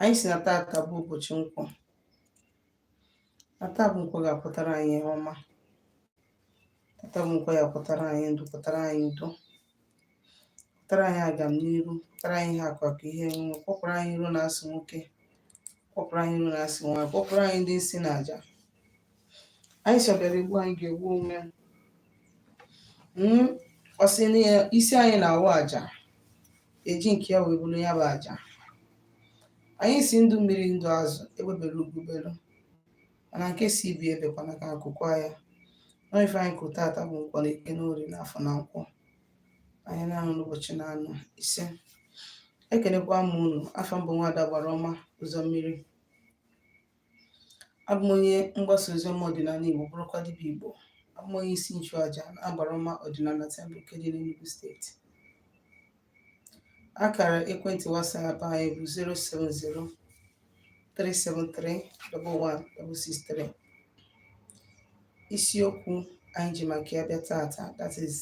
anyị sị na tata bụ ụbọchị nkwọ na taa bụ nkwọ ga-akwọtara anyị ihe ọma tata bụ nkwọ ya kwọtara anyị ndụ kwọtara anyị udo kwọtara anyị agam n'iru kwọtara anyị ihe akụ akụ ihe enwe kwọpụrụ anyị iro na asị nwoke kwọpụrụ anyị iro na asị nwaanyị kwọpụrụ anyị ndị isi na aja anyị sị ọ bịara egbu anyị ga-egbu onwe ya hmm, ọ sị na isi anyị na-awụ aja eji nke ya wee bụrụ ya bụ aja anyị sị ndụ mmiri ndụ azụ egbe bere ugo belu mana nke sị ibe ya ebekwana ka nku kwaa ya na ife anyị kwuru tata bụ nkwọ na eke na orie na afọ na nkwọ ahịa na-anọ n'ụbọchị na-anọ ise ekenekwa m unu afa m bụ nwada agbara ọma ụzọ mmiri Abụ m onye mgbasa ozi ọma ọdịnala Igbo bụrụkwa dibịa Igbo. Abụ m onye isi nchụaja na agbara ọma ọdịnala Temple nke dị n'Enugu steeti. Akara ekwentị WhatsApp anyị bụ 070 373 11163. Isiokwu anyị ji maka ya bịa tata that is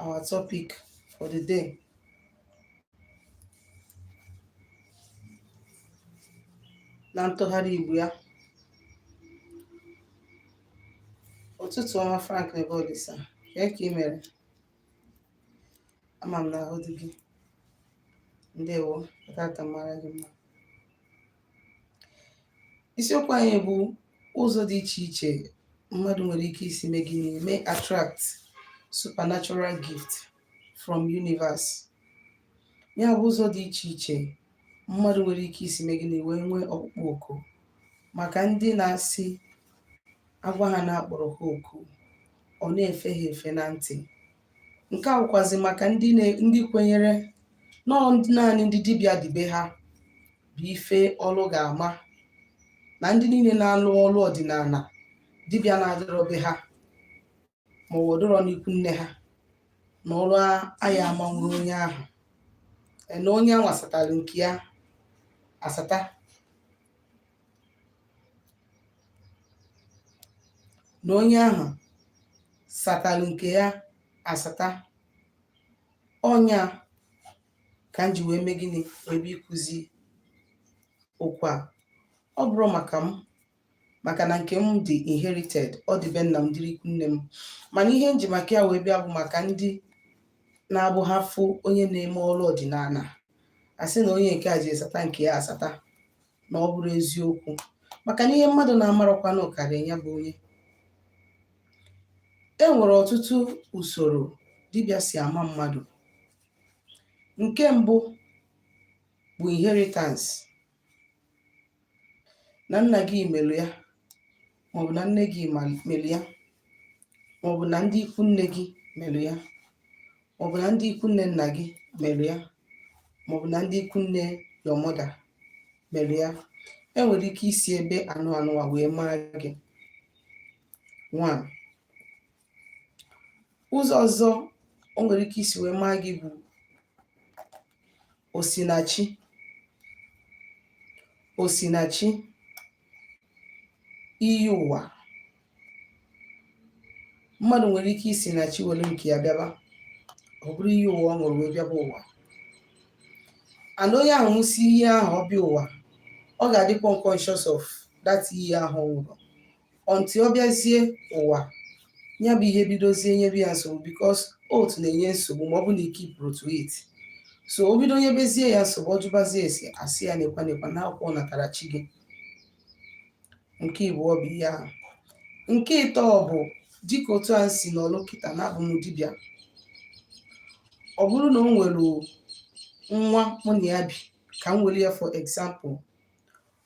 our topic for the day. na ntụgharị Igbo ya ụtụtụ ọma Frank Nebolisa kee ka ị mere ama m na ahụ dị gị ndewo tata mara gị mma isiokwu anyị bụ ụzọ dị iche iche mmadụ nwere ike isi mee gịnị mee attract supernatural gift from universe ya bụ ụzọ dị iche iche mmadụ nwere ike isi mee gịnị wee nwee ọkpụkpọ oku maka ndị na-asị a gwa ha na akpọrọ ha oku ọ na-efe ha efe na ntị nke a wụkwazi maka ndị na- ndị kwenyere na ọ ndị- naanị ndị dibịa dị be ha bụ ife ọlụ ga-ama na ndị niile na-alụ ọlụ ọdịnala dibịa na-adịrọ be ha ma ọ wụ dịrọ n'ikwu nne ha na ọrụ aya amanwuru onye ahụ Ee, na onye anwa satara nke ya asata na onye ahụ satalụ nke ya asata ọ nya ka m ji wee mee gịnị wee bịa ịkụzi okwu a ọ bụrọ maka m maka na nke m dị inherited ọ dị be nna m dịrị ikwu nne m mana ihe m ji maka ya wee bịa bụ maka ndị na-abụ ha fụ onye na-eme ọrụ ọdịnala a sị na onye nke a ji asata nke ya asata na ọ bụrụ eziokwu maka na ihe mmadụ na-amarọkwanụ karịa ya bụ onye e nwere ọtụtụ usoro dibịa si ama mmadụ nke mbụ bụ inheritance na nna gị melụ ya maọbụ na nne gị melụ ya maọbụ na ndị ikwu nne gị melụ ya maọbụ na ndị ikwu nne nna gị melụ ya maọbụ na ndị ikwu nne your mother melụ ya e nwere ike isi ebe anụ anụwa wee maa gị one ụzọ ọzọ o nwere ike isi wee maa gị bụ osinachi osinachi iyi ụwa mmadụ nwere ike isi na chi were nke ya bịaba ọ bụrụ iyi ụwa ọ ṅụrụ wee bịaba ụwa and onye ahụ ṅụsị iyi ahụ ọ bịa ụwa ọ ga-adịkwa unconscious of that iyi ahụ ọ ṅụrụ until ọ bịazie ụwa ya bụ ihe bidozie nyebe ya nsogbu because oath na-enye nsogbu ma ọ bụ na i keepụrọ to it so o bido nyebezie ya nsogbu ọ jụbazie ese a sị ya nekwa nekwa na akwụkwọ natara chi gị nke ịbụọ bụ ihe ahụ nke ịtọ bụ dịka otu a m si nọlụ kịta na abụ m dibịa ọ bụrụ na o nwere nwa mụ na ya bi ka m were ya for example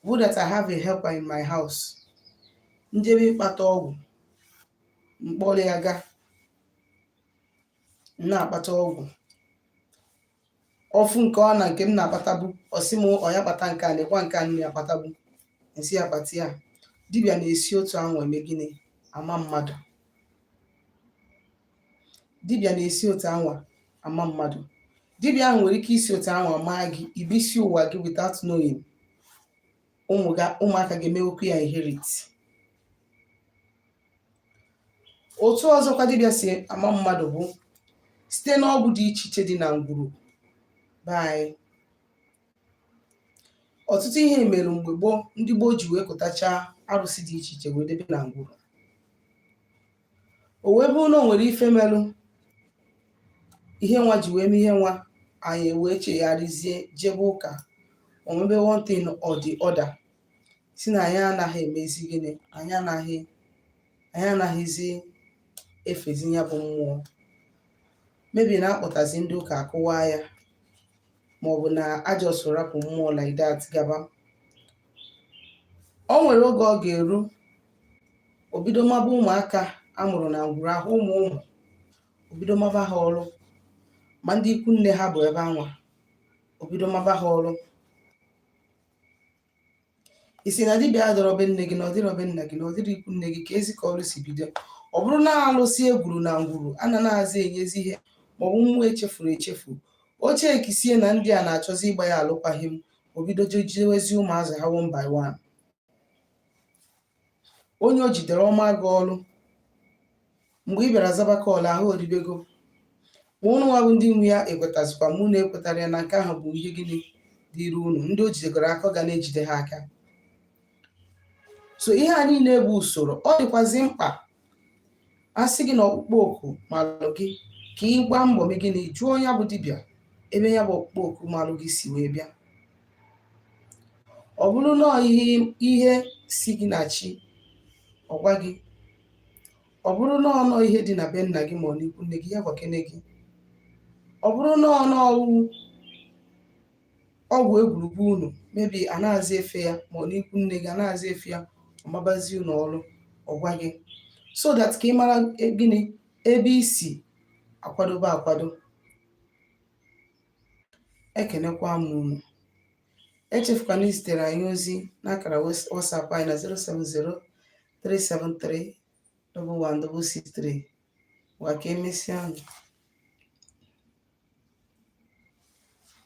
Bụ that I have a helper in my house m jebe ịkpata ọgwụ m kpọrọ ya ga na-akpata ọgwụ ọ fụ nke ọ na nke m na-akpatabu ọ sị m ọ ya kpata nke a nekwa nke a na-akpatabu m sị ya kpata ya dibịa na-esi otu ahụ eme gịnị ama mmadụ dibịa na-esi otu anwa ama mmadụ dibịa ahụ nwere ike isi otu anwa maa gị i bisi ụwa gị without knowing ụmụ ga ụmụaka ga-emewekwu ya inherit otu ọzọkwa dibịa si ama mmadụ bụ site n'ọgwụ dị iche iche dị na ngwuru be anyị ọtụtụ ihe mere mgbe gboo ndị gboo ji wee kụtacha arụsị dị iche iche wee debe na ngwuru o wee bụrụ na o nwere ife merụ ihe nwa ji wee mee ihe nwa anyị wee chegharịzie jebe ụka or maybe one thing or the other sị na anyị anaghị emezi gịnị anyị anaghị anyị anaghịzi efezi ya bụ mmụọ maybe na a kpọtazi ndị ụka a kụwaa ya ma ọ bụ na a just rapụ mmụọ like that gaba o nwere oge ọ ga-eru obido maba ụmụaka a mụrụ na ngwuru ahụ ụmụ ụmụ o bido maba ha ọrụ ma ndị ikwu nne ha bụ ebe anwa o bido maba ha ọrụ ị sị na dibịa adịrọ be nne gị na ọ dịrọ be nna gị na ọ dịrọ ikwu nne gị keezi ka ọrụ si bido ọ bụrụ na alụsị e gwuru na ngwuru a na na-azị enyezi ihe maọbụ mmụọ e chefuru echefu o checkisie na ndị a na-achọzi ịgba ya alụkwaghịm o bido jidewezi ụmụazị ha one by one onye o jidere ọ maa gị ọrụ mgbe ị bịara zaba call ahụ o dibego ma ụnụ nwa bụ ndị nwe ya ekwetazikwa ma ụnụ ekwetara ya na nke ahụ bụ ihe gịnị dịrị unu ndị o jidegoro aka ọ ga na-ejide ha aka so ihe a niile bụ usoro ọ dịkwazi mkpa a sị gị na ọkpụkpọ oku malụ gị ka ị gbaa mbọ mee gịnị jụọ ya bụ dibịa ebe ya bụ ọkpụkpọ oku malụ gị si wee bịa ọ bụrụ na ọ ihe si gị na chi ọ gwa gị ọ bụrụ na ọ na ọ ihe dị na be nna gị ma ọ n'ikwu nne gị ya gwakene gị ọ bụrụ na ọ na ọgwụ ọgwụ e gwuru ngwuru unu maybe a na-azị efe ya ma ọ n'ikwu nne gị a na-azị efe ya ọ mabazi unu ọrụ ọ gwa gị so that ka ị mara e- gịnị ebe i si akwadobe akwado ekenekwa m unu echefukwana izitere anyị ozi n'akara wes- WhatsApp anyị na 070-373-11663 ngwa ka e mesịa nụ